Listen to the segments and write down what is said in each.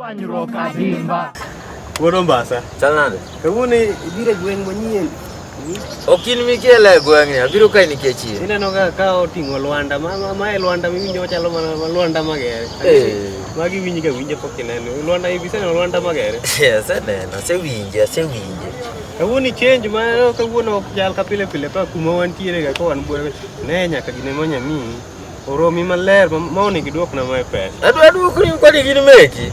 Dwanyruok adimba. Wuod Ombasa. Chal nade? Kawuono ibiro e gweng' manyien. Ok in mikiela e gweng'ni, abiro kae nikech in. Ineno ka ka oting'o Lwanda, ma ma- ma e Lwanda miwinjo machalo mana ma Lwanda Magere. Eh. Magi winji ka winjo pok ineno. Lwanda ibiseneno Lwanda Magere. Aseneno, asewinje, asewinje. Kawuono change ma kawuono ok chal ka pile pile ka kuma wantiere ga ka wan buore. Ne nyaka gine monya mii. Oromi maler ma ma onego iduokna mae pesa. Adwa duokni kwani gin meki.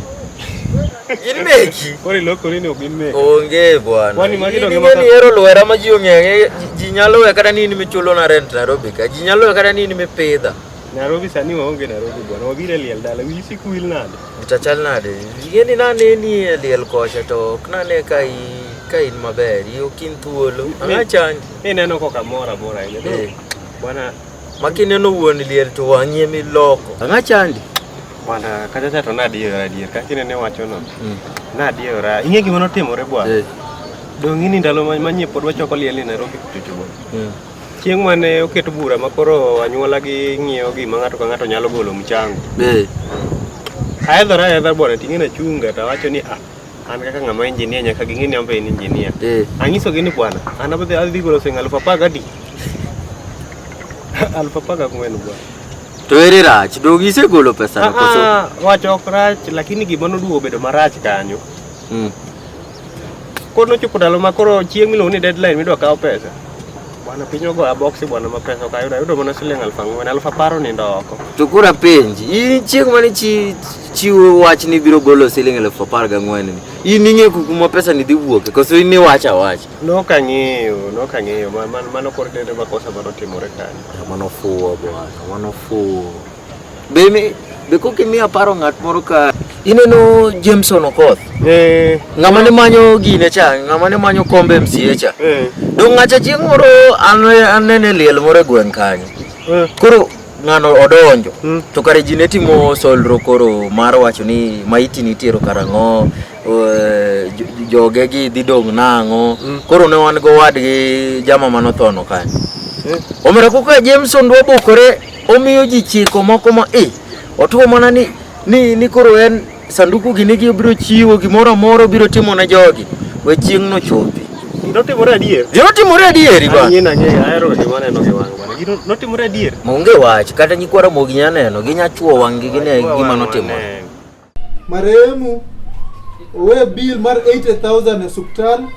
Gin meki. Koro ilokori ni ok gin meki. Onge bwana. Kwani magi In donge ing'e maka- ni hero lwera ma ji ong'eye. Ji- Ji nyalo we kata ni in michulo na rent Nairobi ka. Ji nyalo we kata ni in mipidha. Nairobi sani waonge Nairobi bwana. Wabiro e liel dala. Wiyi sik wil nade? Chachal nade? Ing'e ni nane ni e liel kocha to ok nane ka i ka in maber. I ok in thuolo. Ang'a changi. Ineno koka mora mora ahinya. Eh. Bwana Makineno wuon liel to wang'i ema iloko. Ang'a chandi? Bwana kata cha to nadiera adier kaka inene wacho no. Mm. Nadiera. Ing'e gima notimore bwana. Eh. Dong' ini ndalo manyie pod wachoko liel ni Nairobi kuchocho bwana. Mm. Chieng' mane oket bura ma koro anyuola gi ng'iewo gima ng'ato ka ng'ato nyalo golo mchango. Eh. Aedhora aedha bwana ting'e na chunga to awacho ni ah an kaka ng'ama engineer nyaka ging'e ni an be en engineer eh. anyisogi ni bwana an abadhi adhi golo siling' aluf apar gadi aluf apar gang'wen bwana to ere rach dog isegolo pesa ah, koso ah, wacho ok rach lakini gima noduogo bedo marach kanyo hmm. koro nochopo ndalo ma koro chieng' miluongo ni deadline midwa kawo pesa Bwana piny ogoya boksi bwana ma pesa okayudo ayudo mana siling aluf ang'wen aluf apar onindo oko. To koro apenji, in chieng' mane chi chiwo wach ni biro golo siling elfu apar gang'wen ni, in ing'e ku- kuma pesa ni dhi wuoke koso in iwacha wacha? Nok ang'eyo, nok ang'eyo. Ma- man- Mano koro dende makosa mano timore kanyo. Mano fuwo bwana, mano fuwo. Be imi- be koka imiyo aparo ng'at moro ka ineno Jameson Okoth Eh, ng'ama ne manyo gine cha ng'ama ne manyo kombe MCA cha eh, dong' ng'acha chieng' moro an anene liel moro e gweng' kanyo eh. koro ng'ano odonjo Mm. to kare ji ne timo solro koro mar wacho ni maiti nitiero karang'o eh, jo- joge gi dhi dong' nang'o Mm. koro ne wan go wadgi jama manothono kanyo Eh. omera koko jameson dwa bukore Omiyo ji chiko moko ma e otuo mana ni ni ni koro en sanduku gini gi obiro chiwo gimoro amora obiro timo ne jogi we chieng' no chopi. Notimore adier. Gino timore adieri ba. Anyien ang'eyo ahero weche maneno gi wang' bana. Gino notimore adier. Onge wach kata nyikwara mogi nyaneno ginya chuo wang' gi gine gima notimore. Marehemu owe bill mar 80000 e osiptal.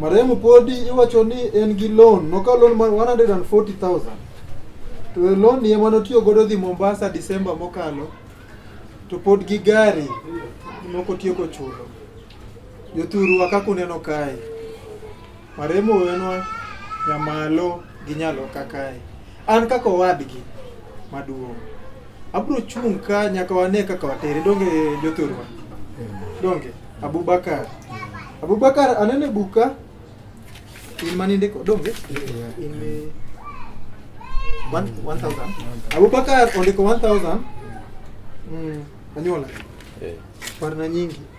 Marehemu podi iwacho ni en gi loan, nokawo loan mar 140000 to e loan ni ema notiyo godo dhi Mombasa Disemba mokalo, to pod gi gari moko tieko chulo. Jothurwa kaka uneno kae, marehemu owenwa nyamalo gi nyaloka kae. An kaka owadgi maduong', abro chung' ka nyaka wane kaka watere donge jothurwa. Donge Abubakar. Abubakar anene buka in mani ndiko donge in eh, one- 1000 Abubakar ondiko 1000 mm, anyuola Eh. parna nyingi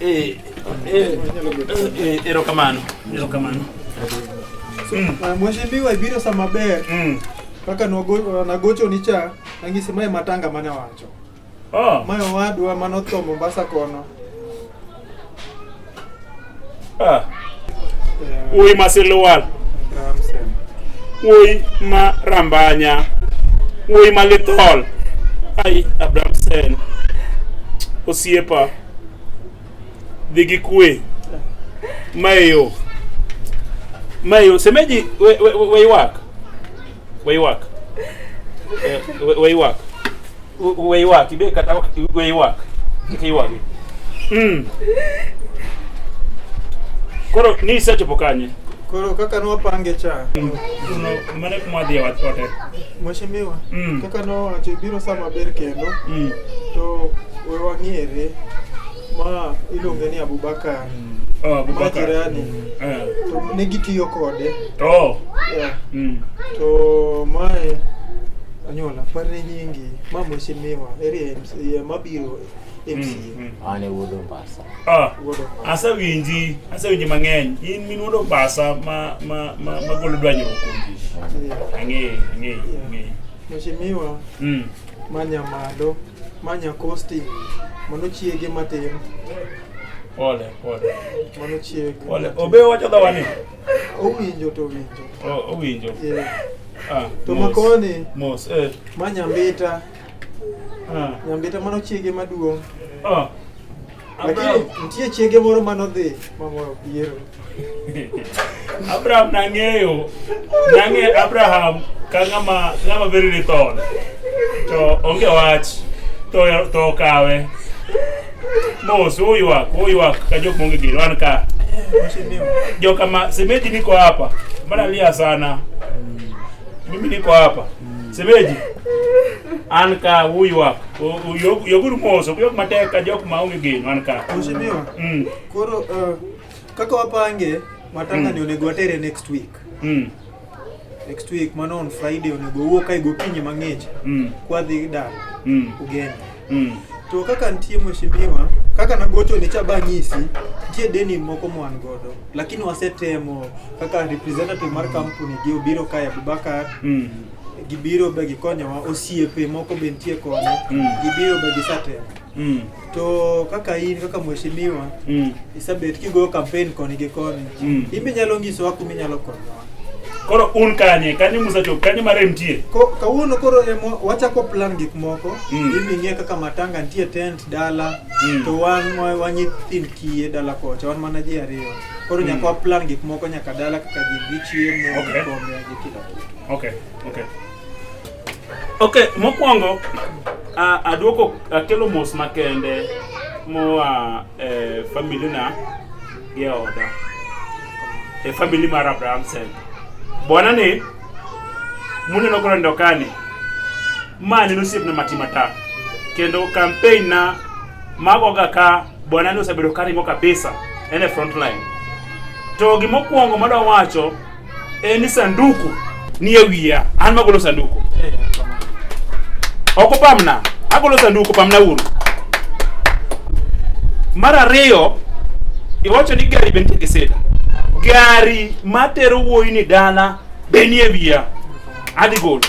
Eh, eh, eh, erokamano erokamano mm. ah, mheshimiwa ibiro sa maber mm. kaka nagocho ni cha angisi mae matanga mane wacho oh. mae owadwa mane otho mombasa kono Ah. Wuoyi ma Silwal. Wuoyi ma Rambanya. Wuoyi ma Lithol. Ai Abramsen. Osiepa. Dhi gi kwe. Mayo. Mayo, semeji we, we, we, we ywak. Waiwak. Eh, wa- Waiwak. Wa- Waiwak. Ibe kata ok waiwak. Kik iywagi. Mm. Koro ni isechopo kanye? Koro kaka nwapange cha Kuno mane kuma dhi wat ote. mheshimiwa Mm. kaka nowacho ibiro saa maber kendo Mm. to we wang'ere Ma iluonge ni Abubakar. Oh, Abubakar. Majirani. Eh. To ne gitiyo kode. Oh. Yeah. Mm. To mae anyuola par ne nyingi ma mheshimiwa eri MC mabiro MC. Mm, mm. Ane wuod Ombasa. Ah. Wuod Ombasa. Asewinji, asewinji mang'eny. In min wuod Ombasa ma ma ma magolo dwanyruok kuom ji. Yeah. Ang'eyo, ang'eyo, Yeah. ang'eyo. Mheshimiwa Mm. Manya malo, manya kosti, mano chiege matin. Pole, pole. Mano chiege. Pole. Obe wacho dhawa ni. Owinjo to owinjo. Oh, owinjo. Yeah. Ah, to makoni. Mos. Eh. Manya mbita. Ah. Nyambita mano chiege maduong'. Ah. Lakini nitie chiege moro mane odhi mamoro piero. Abraham nang'eyo, nang'eyo Abraham ka ng'ama ng'ama very lethal. To onge wach to to okawe. Mos uywak, uywak ka jok monge gir wan ka. Joka ma semeji niko hapa. Mbona lia sana? Mimi niko hapa. Semeji. An ka huyu hapa. Yoguru moso, yok mateka jok maonge geno an ka. Mheshimiwa. Mm. Koro uh, kaka wapange matanga mm. ni onego watere next week. Mm. Next week mano on Friday onego wuo kai gokinyi mang'ich. Mm. Kwadhi dala. Mm. Ugeni. Mm. To kaka nitie mheshimiwa, kaka nagocho ni cha banyisi, nitie deni moko mwan godo, lakini wasetemo kaka representative mar kampuni gi obiro kae Abubakar mm. gibiro be gikonyowa, osiepe moko be nitie kone mm. gibiro be gisatemo mm. to kaka in kaka mheshimiwa mm. isabet kigoyo campaign koni gi koni mm. imbe nyalo nyisowa kuma inyalo konyowa Koro un kanye, kanye Musa chop, kanye mare mtie. Ko kawuono koro emo wachako plan gik moko. Mm. Ibi ng'e kaka matanga nitie tent dala mm. to wan wanyi thin kiye dala kocha wan mana ji ariyo. Koro mm. nyaka plan gik moko nyaka dala kaka ji dhi chiemo okay. kombe gi kila kitu. Okay. Okay. Okay, mokwongo aduoko akelo mos makende moa eh, family na Geoda. E family mar Abraham Sen. Bwana ni mune no koro ndokani. Ma ni nusip na matimata. Kendo campaign na mago ga ka bwana ni osebedo karimo kabisa ene front line. To gimokuongo madwa wacho Eh, ni sanduku ni e wiya an magolo sanduku eh, oko pamna agolo sanduku pamna uru mar ariyo iwacho ni gari be nitie gi sida gari matero wuoyi ni dala be ni e wiya adhi golo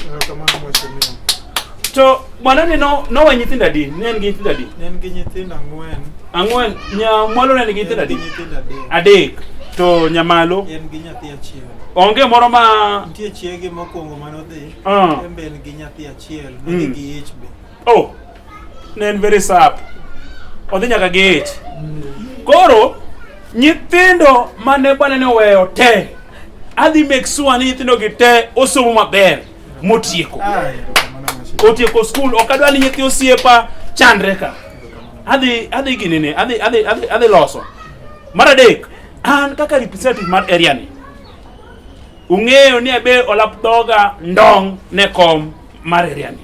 To mwanani no no wa nyithindo adi? Ne en gi nyithindo adi? Ne en gi nyithindo ang'wen. Ang'wen. Nya mwalo ne en gi nyithindo adi? Nyithindo adek. Adek. To nyamalo? En gi nyathi achiel. Onge moro ma nitie chiege mokwongo mano dhi. Uh. Ah. En be en gi nyathi achiel, ne mm. gi ich be. Oh. Ne en very sad. Odhi nyaka gi ich. Mm. Koro nyithindo mane bwana ne oweyo te adhi make sure ni nyithindogi te osomo maber motieko otieko skul ok adwa ni nyithi osiepa chandre ka adhi adhi ginene adhi adhi adhi adhi loso mar adek an kaka representative mar area ni ung'eyo ni abe olap dhoga ndong ne kom mar area ni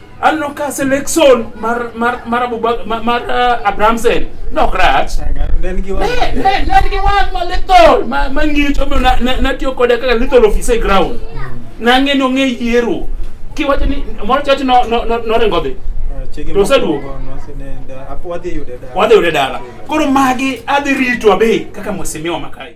aneno ka selection mar mar mar Abubakar mar, mar uh, Abrahamsen nok rach Ne ne ne gi wang' ma little ma ma ng'icho omiyo na- na- natiyo kode kaka little office e ground nang'e ni ong'e yiero kiwacho ni moro chache no- no- no- noringo dhi To oseduogo? wadhi yude dala wadhi yude dala koro magi adhi rito abe kaka mheshimiwa Makai